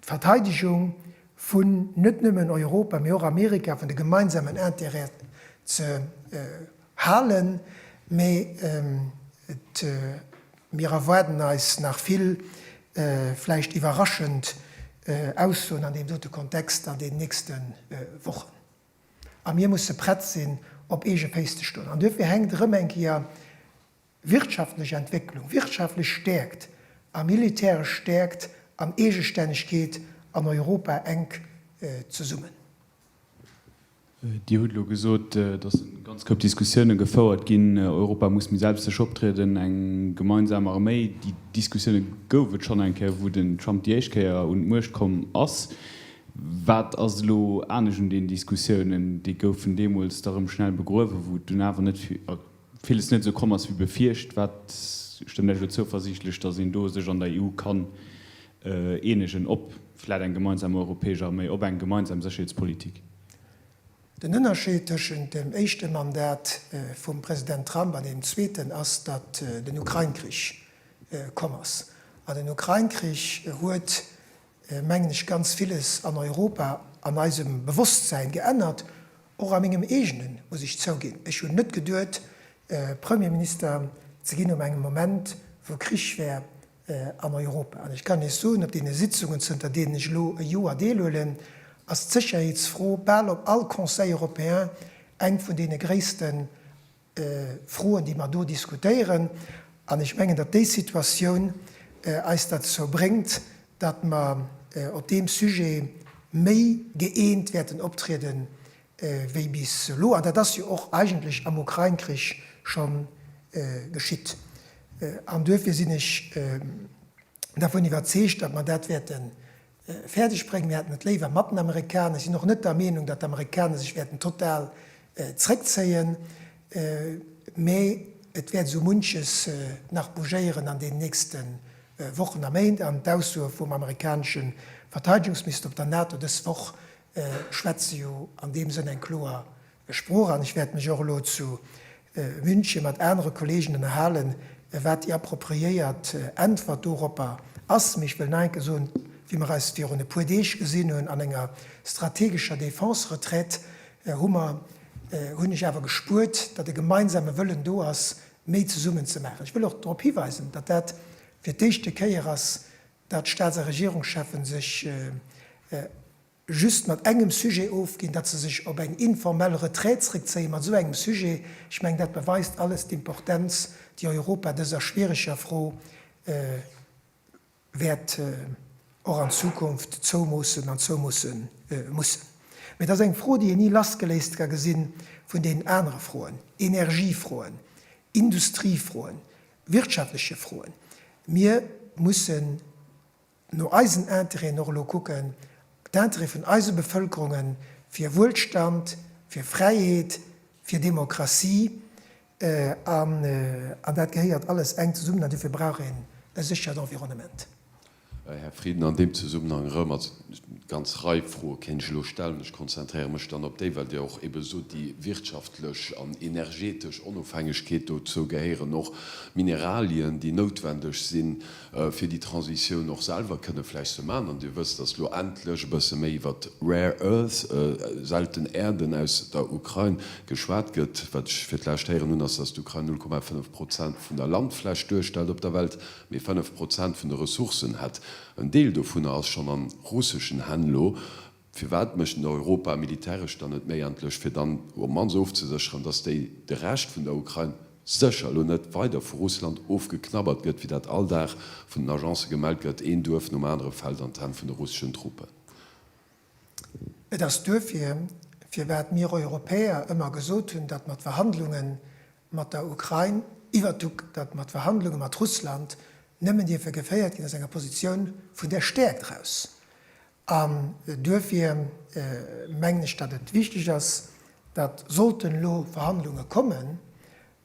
d'Verteidegung vun net nëmmen Europa, mee och Amerika, vun de gemeinsamen Intérêten ze halen. Mee mir erwaarden eis nach vill, vläicht iwwerraschend Aussoen an deem dote Kontext an den nächste Wochen. A mir musse prett sinn, op eege Féiss ze stoen. An duerfir hänkt erëm eng Kéier, Wirtschaftlech Entwécklung, wirtschaftlech Stäerkt a militäresch Stäerkt an Eegestännegkeet an Europa enk zesummen. Dir hutt elo gesot, dass e ganz Koup Diskussiounen gefouert ginn, Europa muss méi selbststäneg optrieden, eng gemeinsam Arméi. Déi Diskussiounen gouf et schonn eng Kéier, wou den Trump déi éischt Kéier un d'Muecht komm ass. Wat ass elo anescht un deenen Diskussiounen? Déi goufen deemools da rëm schnell begruewen, wou et dunn awer net villes net esou komm ass wéi befiercht, wat stëmmt Iech elo zouversiichtlech, datt een do sech an der EU kann eenegen op vläit eng gemeinsam europäesch Arméi, op eng gemeinsam Sécherheetspolitik? Den Ënnerscheed tëschent dem éischte Mandat vum President Trump an deem zweeten ass, datt den Ukrain-Krich komm ass. An den Ukrain-Krich huet mengen ech, ganz villes an Europa an eisem Bewusstsein geännert, och a mengem eegenen, muss ech zouginn. Ech hunn net geduet, Premierminister ze ginn op engem Moment, wou Krich wär an Europa. An ech kann Iech soen, op deene Sitzungen, zënter deenen ech elo e Joer deelhuelen, ass d'Sécherheetsfro bal op all Conseil européen eng vun deene gréissten. Froen, déi mer do diskutéieren. An ech mengen, datt déi Situatioun eis derzou bréngt, datt mer op deem Sujet méi gëeent wäerten optriede wéi bis elo. An dat ass jo och eigentlech am Ukrain-Krich scho geschitt. An duerfir sinn ech dervun iwwerzeegt, datt mer dat wäerte fäerdeg bréngen. Mir hätten et léiwer mat den Amerikaner. Ech sinn och net der Meenung, datt d'Amerikaner sech wäerten total zréckzéien, mä et wäert esou munches nach bougéieren an deenen nächste Wochen a Méint. An d'Aussoe vum amerikanesche Verteidegungsminister op der NATO dës Woch schwätze jo an deem Sënn eng kloer Sprooch an ech wäert mech och elo zu München mat anere Kollegen ënnerhalen, wat déi appropriéiert Äntwert doropper ass. Mee ech wëll nach eng Kéier soen, wéi mer eis virun e puer Deeg gesinn hunn an enger strategescher Défense-Retraite, hu mer, hunn ech awer gespuert, datt e gemeinsame Wëllen do ass, méi zesummen ze maachen. Ech wëll och drop hiweisen, datt dat fir d'éischte Kéier ass, datt d'Staats a Regierungscheffe sech just mat engem Sujet ofginn, datt se sech op eng informell Retraite zréckzéie mat esou engem Sujet. Ech mengen, dat beweist alles d'Importenz, déi Europa dëser schwiereger Fro wäert och an Zukunft zoumoossen an zoumoosse mussen. Mee et ass eng Fro, déi een ni lassgeléist ka gesi vun deenen anere Froen, Energiefroen, Industriefroen, wirtschaftleche Froen. Mir mussen no eisen Interêten och elo kucken, d'Interêt vun eise Bevëlkerungen, fir Wuelstand, fir Fräiheet, fir Demokratie, an dat gehéiert alles enk zesummen an dofir brauch een e séchert Environnement. Här Frieden, an deem Zesummenhang erëm, also ganz Rei Froe kéint ech elo stellen, ech konzentréiere mech dann op déi, well Dir och ebe sot, déi wirtschaftlech an energetesch Onofhängegkeet, dozou gehéieren och Mineralien, déi noutwendeg sinn, fir déi Transitioun och selwer kënne vläicht ze maachen. An Dir wësst, datt elo endlech e bësse méi iwwert d'Rare Earths, selten Äerden, aus der Ukrain geschwat gëtt. Wat ech fir d'lescht héieren hunn, ass, datt d'Ukrain 0,5 Prozent vun der Landfläch duerstellt op der Welt, mee 5 Prozent vun de Ressourcen hätt. En Deel dovunner ass schonn a russeschen Hänn elo. Firwat mécht en Europa militäresch dann net méi endlech, fir dann op mannst ofzesécheren, datt déi de Rescht vun der Ukrain sécher elo net weider vu Russland ofgeknabbert gëtt, wéi dat all Dag vun den Agencë gemellt gëtt, een Duerf nom anere fält an d'Hänn vun de russeschen Truppen. Et ass duerfir, firwat mir Europäer ëmmer gesot hunn, datt mer d'Verhandlunge mat der Ukrain iwwert d'Uk datt mer d'Verhandlunge mat Russland nëmmen dierfe geféiert ginn aus enger Positioun vun der Stäerkt eraus, An duerfir mengen ech, datt et wichteg ass, datt, sollten elo Verhandlunge kommen,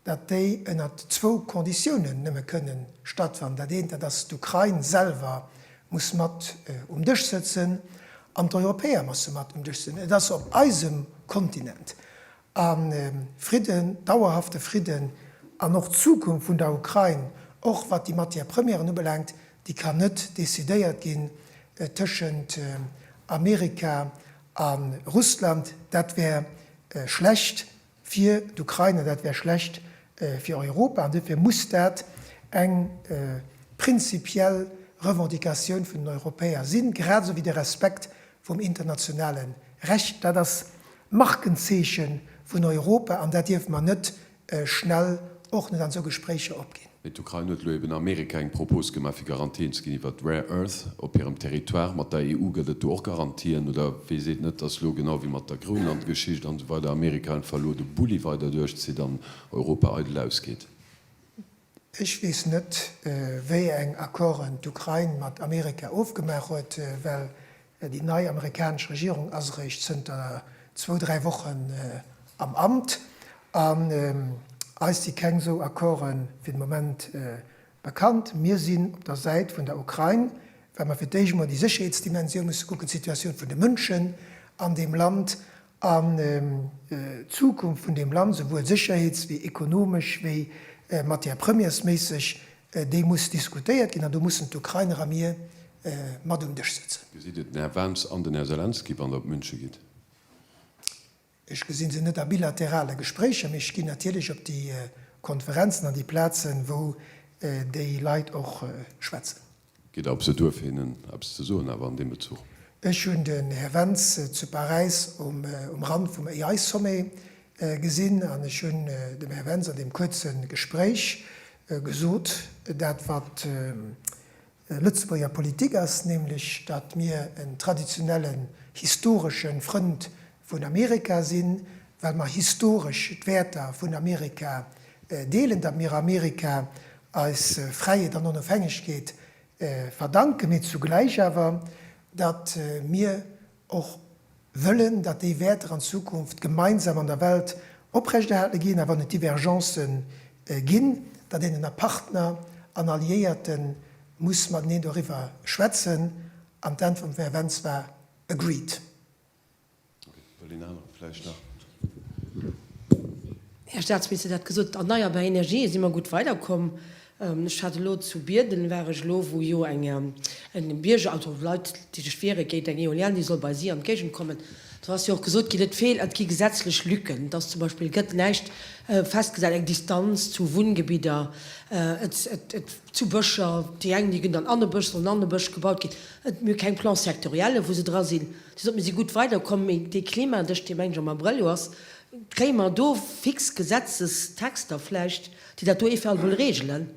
datt déi ënnert zwou Konditiounen nëmme kënne stattfannen. Dat eent, dat ass, d'Ukrain selwer muss mat um Dësch sëtzen an d'Europäer musse mat um Dësch sëtzen. Et ass op eisem Kontinent A Fridden, dauerhafte Fridden an och d'Zukunft vun der Ukrain, och wat déi Matières premières ubelaangt, déi kann net decidéiert ginn tëschent Amerika a Russland. Dat wär schlecht fir d'Ukrain an dat wär schlecht fir Europa. An dofir muss dat eng prinzipiell Revendicatioun vun den Europäer sinn, grad esou wéi de Respekt vum internationale Recht. Dat ass d'Markenzeeche vun Europa an dat dierfe mer net schnell, och net an esou Gespréicher, opginn. Mee d'Ukrain huet elo eben Amerika eng Propos gemaach, fir Garantien ze ginn iwwert d'Rare Earth op hirem Territoire. Mat der EU gëtt et do och Garantien, oder wee seet net, dass elo, genau wéi mat der Groenlandgeschicht an esou weider, Amerika einfach elo de Bulli weider duerchzitt an Europa eidel ausgeet? Ech weess net, wéi eng Accorden d'Ukrain mat Amerika ofgemaach huet, well déi nei amerikanesch Regierung ass eréischt zënter zwou, dräi Wochen am Amt. An eis si keng esou Accorde fir de Moment bekannt. Mir sinn op der Säit vun der Ukrain, well mer fir d'éischt emol déi Sécherheetsdimensioun musse kucken, d'Situatioun vun de Mënschen an deem Land. An d'Zukunft vun deem Land, souwuel sécherheets wéi ekonomesch wéi matière-premiersméisseg, déi muss diskutéiert ginn an do mussen d'Ukrainer a mir mat um Dësch sëtzen. Gesitt Dir den Här Vance an den Här Selenskyj, wann Der op München gitt? Ech gesi se net a bilaterale Gespréicher, mee ech ginn natierlech op déi Konferenzen an déi Plazen, wou déi Leit och schwätzen. Geet der op esou Duerf hinnen eppes ze soen awer an deem Bezuch? Ech hunn den Här Wentz zu Paräis um Rand vum AI-Sommet gesinn an ech hunn dem Här Wentz an deem kuerze Gespréich gesot, dat wat Lëtzebuerger Politik ass, nämlech datt mir en traditionellen, historesche Frënd vun Amerika sinn, well mer historesch d'Wäerter vun Amerika deelen, datt mir Amerika eis Fräiheet an Onofhängegkeet verdanken, mee zugläich awer, datt mir och wëllen, datt déi Wäerter an Zukunft gemeinsam an der Welt oprechterhale ginn, a wann et Divergencë ginn, datt een ënner Partner an Alliéierte muss mateneen doriwwer schwätzen, an d'Äntwert vum Här Wentz war agreed. Här Statsminister, Dir hat gesot, erneierbar Energië si mer gutt weiderkomm. Ech hat elo zu Bierden, war ech elo, wou jo eng Bierger, also Leit, déi sech wiere géint eng Eolienne, déi soll bei si an d'Géigend kommen. Do ass jo och gesot ginn, et feelt, et gi gesetzlech Lücken, dass zum Beispill gëtt näischt festgesat, eng Distanz zu Wunngebidder, et zu Bëscher, déi eng, déi ginn dann an e Bësch, soll an e Bësch gebaut ginn. Et mir keng Plans sectorielle wou se dra sinn, déi soten mir si gutt weider komm, mee dee Klima, dech dee mengt am Abrëll jo ass, kréie mer do fix Gesetzestexter vläicht, déi dat do eventuell wëlle regelen?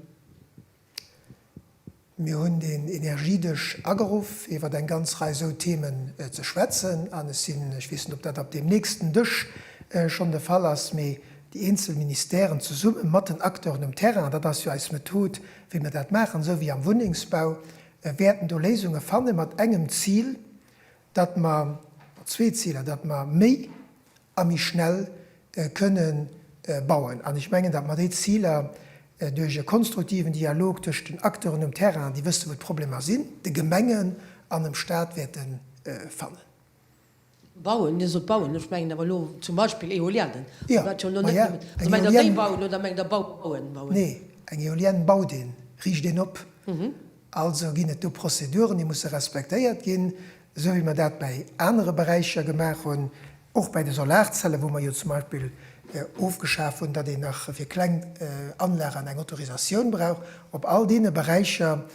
Mir hunn deen Energiedësch ageruff iwwert eng ganz Rei esou Themen ze schwätzen an ech sinn, ech weess net ob dat op deem nächsten Dësch schonn de Fall ass, mee déi eenzel Ministèren zesumme mat den Acteuren um Terrain, dat ass jo eis Method wéi mer dat maachen, esou wéi am Wunnengsbau, Mer wäerten do Léisunge fanne mat engem Zil, datt mer, oder zwee Ziler, datt mer méi a méi schnell kënne bauen. An ech mengen, datt mer déi Ziler duerch e konstruktiven Dialog tëschent den Acteuren um Terrain, déi wësse wou d'Problemer sinn, de Gemengen an dem Stat, wäerte fannen. Bauen, Dir sot bauen, ech mengen awer elo zum Beispill Eoliennë. Jo, ma jo, eng Eolienne. Bauen oder mengt Der bauen, bauen? Nee, eng Eolienne baut een, riicht een op. Also ginn et do Prozeduren, déi musse respektéiert ginn, esou wéi mer dat bäi anere Beräicher gemaach hunn, och bäi de Solarzellen, wou mer jo zum Beispill ofgeschaf hunn, datt een nach fir kleng Anlagen eng Autorisatioun brauch. Op all deene Beräicher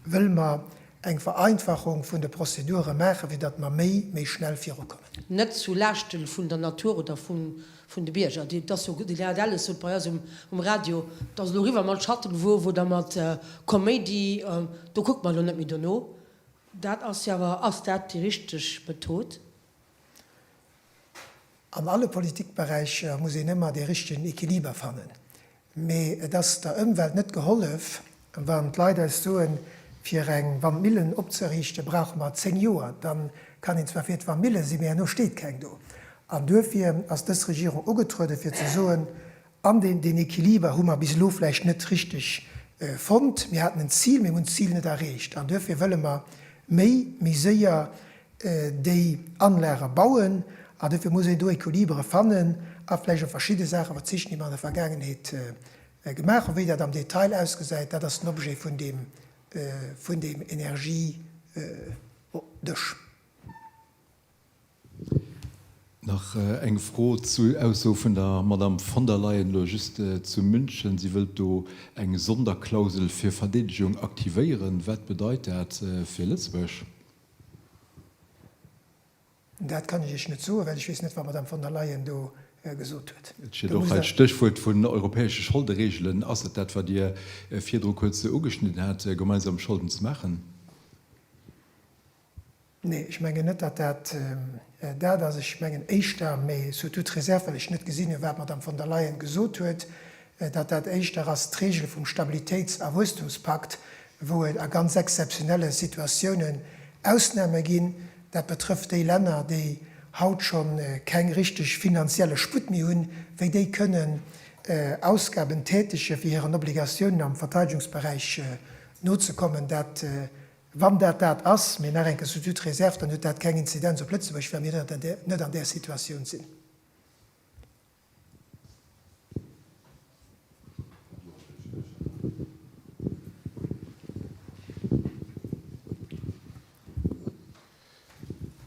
wëlle mer Eng Vereinfachung vun de Prozedure maachen, fir datt mer méi, méi schnell virukommen. Net zu Laaschten vun der Natur oder vun de Bierger. Dir hat Elles sot bei eis um Radio, et ass elo eriwwer mat Schattenwuer, wou da mat Koméidi, do kuckt mer elo net méi dono. Dat ass jo awer, ass dat déi richteg Method? An alle Politikberäicher muss een ëmmer dee richtegen Equiliber fannen. Mee et ass der Ëmwelt net gehollef, wann d'Leit eis soen, fir eng Wandmillen opzeriichte brauche mer zéng Joer. Da kann een zwar fir d'Wandmille sinn, mee herno steet keng do. An duerfir ass dës Regierung ugetruede fir ze soen, An deen Equiliber hu mer bis elo vläicht net richteg fonnt. Mir haten en Zil, mee mir hunn d'Zil net erreecht. An duerfir wëlle mer méi, méi séier déi Anlage bauen. An duerfir muss een do Equilibere fannen a vläicht op verschidde Saache verzichten, déi mer an der Vergaangenheet gemaach hunn. Wéi dat am Detail ausgesäit, dat ass den Objet vun deem, vun deem Energiedësch. Nach eng Fro zu Ausso vun der Madame von der Leyen elo just zu München. Si wëllt do eng Sonderklausel fir Verdeedegung aktivéieren. Wat bedeit dat fir Lëtzebuerg? Dat kann ech Iech net soen, well ech weess net, wat d'Madame von der Leyen do gesot huet. Et steet och hei d'Stéchwuert vun europäesche Scholdereegelen. Ass et dat, wat Dir virdru kuerz ugeschnidden hat, gemeinsam Scholden ze maachen? Nee, ech mengen net, datt dat dat ass. Ech mengen éischter, mais sous toute réserve, well ech net gesinn hunn, wat d'Madame von der Leyen gesot huet, datt dat éischter ass d'Regel vum Stabilitéits a Wuesstumspakt, wou et a ganz exzeptionelle Situatiounen Ausnahme ginn. Dat betrëfft déi Länner, déi haut scho keng richteg finanzielle Sputt méi hunn, wéi déi kënnen Ausgaben tätege fir hiren Obligatiounen am Verteidegungsberäich nozekommen. Dat Wann dat dat ass, mee nach enke sous toute réserve, dann huet dat keng Inzidenz op Lëtzebuerg, well mir net an där Situatioun sinn.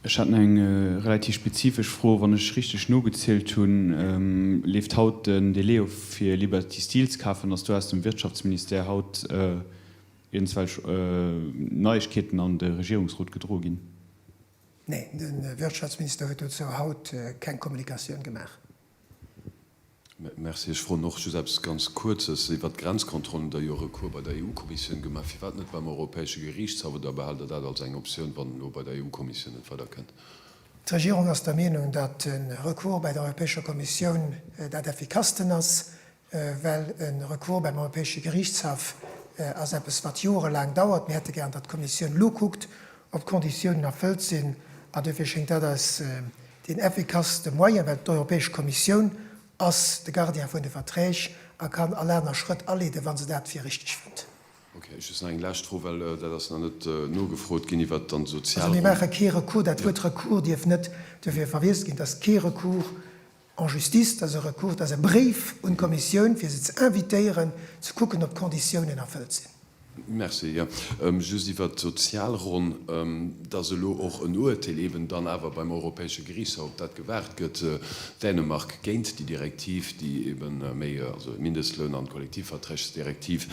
Ech hat nach eng relativ spezifesch Fro. Wann ech richteg nogezielt hunn, leeft haut den Delai of fir Liberty Steel ze kafen, dass do aus dem Wirtschaftsministère haut Iergendwelch Neiegkeeten an de Regierungsrot gedroe ginn? Nee, de Wirtschaftsminister huet dozou haut keng Kommunikatioun gemaach. Merci. Ech froen och just eppes ganz Kuerzes iwwert d'Grenzkontrollen. Der jo e Recours bei der EU-Kommissioun gemaach. Firwat net beim Europäesche Geriichtshaff? Oder behalt Der dat als eng Optioun, wann elo bei der EU-Kommissioun net weider kënnt? D'Regierung ass der Meenung, datt e Recours bei der Europäescher Kommissioun dat effikassten ass. well e Recours beim Europäesche Geriichtshaff ass eppes, wat jorelaang dauert. Mir hätte gären, datt d'Kommissioun elo kuckt, ob d'Konditiounen erfëllt sinn, a duerfir schéngt dat eis deen effikasste Moyen, well d'Europäesch Kommissioun ass de Gardien vun de Verträg a kann all aner Schrëtt aleeden, wa se dat fir richteg fënnt. Okay, ech just nach eng lescht Fro, well dat ass nach net nogefrot ginn, iwwert dann d'Sozialronn. Also mir maache kee Recours. Dat Wuert Recours dierf net duerfir verwiesst ginn, datt kee Recours En justice, dass e Recours, dass e Bréif un d'Kommissioun, fir se ze invitéieren, ze kucken, ob d'Konditiounen erfëllt sinn. Merci. Jo, just iwwert d'Sozialronn, dass elo och en Urteel eeben dann awer beim Europäesche Gerichtshof, op dat gewaart gëtt, Dänemark, géint déi Direktiv, déi eeben méi, also e Mindestloun an d'Kollektivverträgsdirektiv.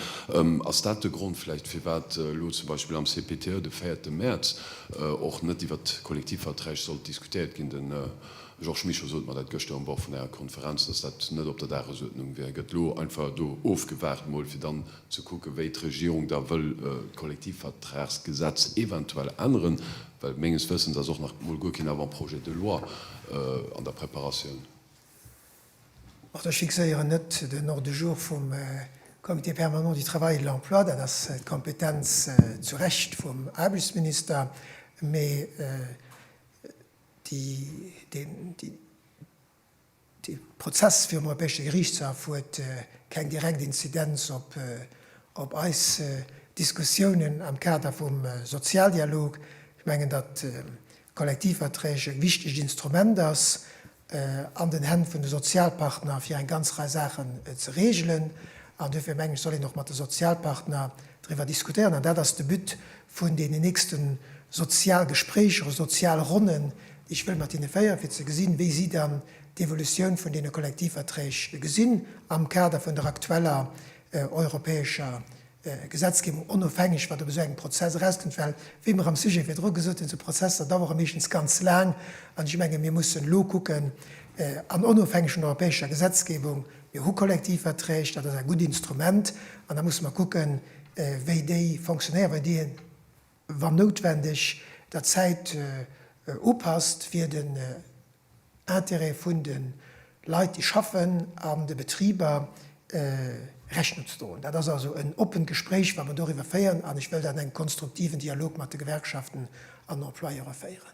Ass dat de Grond vläicht, firwat elo zum Beispill am CPTE de véierte Mäerz och net iwwert d'Kollektivverträg sollt diskutéiert ginn? Georges Mischo, Sot mer dat gëschter um Bord vun Ärer Konferenz, datt dat net op der Dagesuerdnung wär? Gëtt elo einfach do ofgewaart mol fir dann ze kucken, wéi d'Regierung da wëll d'Kollektivvertragsgesetz eventuell änneren? Well menges Wëssens ass och nach mol guer keen Avant-projet de loi an der Preparatioun. Also ech fixéieren net den Ordre du jour vum Comité permanent du travail et de l'emploi, dat ass d'Kompetenz zu Recht vum Aarbechtsminister. Mee. Dee Prozess virum Europäesche Geriichtshaff huet keng direkt Inzidenz op eis Diskussiounen am Kader vum Sozialdialog. Ech mengen, datt d'Kollektivverträg e wichtegt Instrument ass an den Hänn vun de Sozialpartner, fir eng ganz Rei Saachen ze reegelen. An duerfir mengen ech, soll een och mat de Sozialpartner driwwer diskutéieren. An dat ass de But vun deenen nächste Sozialgespréicher oder Sozialronnen, déi ech wëll mat hinne féieren, fir ze gesinn, wéi si dann d'Evolutioun vun deene Kollektivverträg gesinn am Kader vun der aktueller europäescher Gesetzgebung, onofhängeg, wat op esou engem Prozess erauskënnt. Well, wéi mer am Sujet virdru gesot hunn, esou Prozesser dauere meeschtens ganz laang. An ech menge mir mussen elo kucken, an onofhängeg vun der europäescher Gesetzgebung, Mir hu Kollektivverträg, dat ass e gutt Instrument, an da musse mer kucken, wéi déi fonctionnéieren, wéi déi een, wann noutwendeg, der Zäit upasst, fir den Intérêt vun de Leit, déi schaffen, an de Betriber Rechnung ze droen. Dat ass also en oppent Gespréich, wat mer doriwwer féieren, an ech wëll dat an engem konstruktiven Dialog mat de Gewerkschaften an Employeure féieren.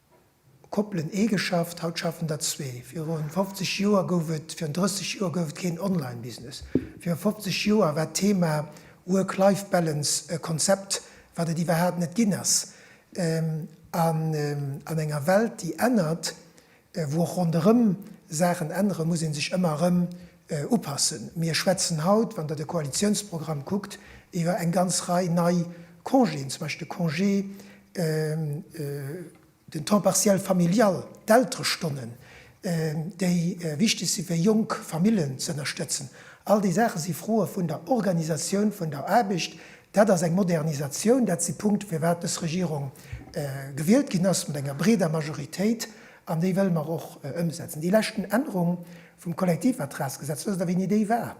Koppelen ee geschafft, haut schaffen der zwee. Virun 50 Joer gouf et, virun 30 Joer gouf et keen Online-Business. Virun 50 Joer war d'Thema Work-Life-Balance e Konzept, wat et iwwerhaapt net ginn ass. An enger Welt, déi ännert, wou och ronderëm Saachen änneren, muss ee sech ëmmer erëm upassen. Mir schwätzen haut, wann Der de Koalitionsprogramm kuckt, iwwer eng ganz Rei nei Congéen, zum Beispill de Congé, den Temps partiel familial, d'Elterestonnen, déi wichtig sinn, fir jonk Familljen ze ënnerstëtzen. All déi Saache si Froe vun der Organisation vun der Aarbecht. Dat ass eng Modernisation. Dat si Punkte, firwat dës Regierung gewielt ginn ass, mat enger breeder Majoritéit. An déi wëlle mer och ëmsetzen. Déi leschten Ännerung Vum Kollektivatrasgesetz, wësst Der wéini déi war?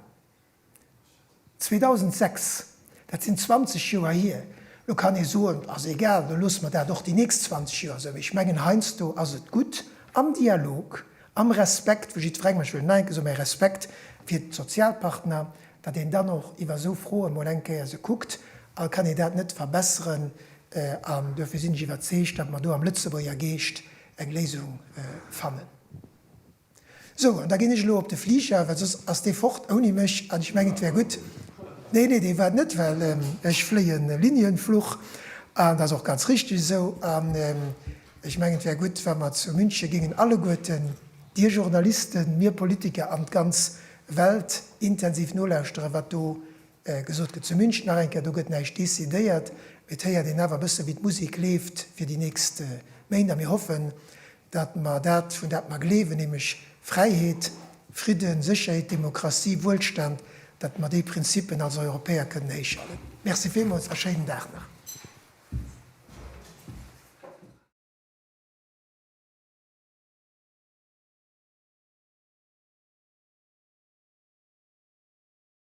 2006. Dat sinn 20 Joer hier. Lo kann ee soen, ass egal, da loosse mer dat och déi nächst 20 Joer esou. Mee ech mengen, heiansdo ass et gutt, am Dialog, am Respekt vu jiddwerengem, ech wëll et nach eng Kéier soen, mä Respekt fir d'Sozialpartner, datt een dann och iwwer esou Froe mol eng Kéier se kuckt, a kann ee dat net verbesseren? An duerfir sinn ech iwwerzeegt, datt mer do am Lëtzebuerger Geescht eng Léisung fannen. Sou, an da ginn ech elo op de Fliger, well soss ass dee fort ouni mech, an ech mengen et wär gutt, nee, nee, dee waart net, well ech fléien e Linienflug, an dat ass och ganz richtig esou, an ech mengen et wär gutt, wa mer zu München géingen alleguerten, Dir Journalisten, mir Politiker an d'ganz Welt intensiv nolauschteren, wat do Gesot gëtt zu München nach eng Kéier, do gëtt näischt decidéiert, mee et héiert een awer e bësse wéi d'Musek leeft fir déi nächst Méint. A mir hoffen, datt mer dat, vun dat mer gleewen, nämlech Fräiheet, Fridden, Sécherheet, Demokratie, Wuelstand, datt mer déi Prinzippen als Europäer kënnen héich halen. Merci villmools a schéinen Dag nach.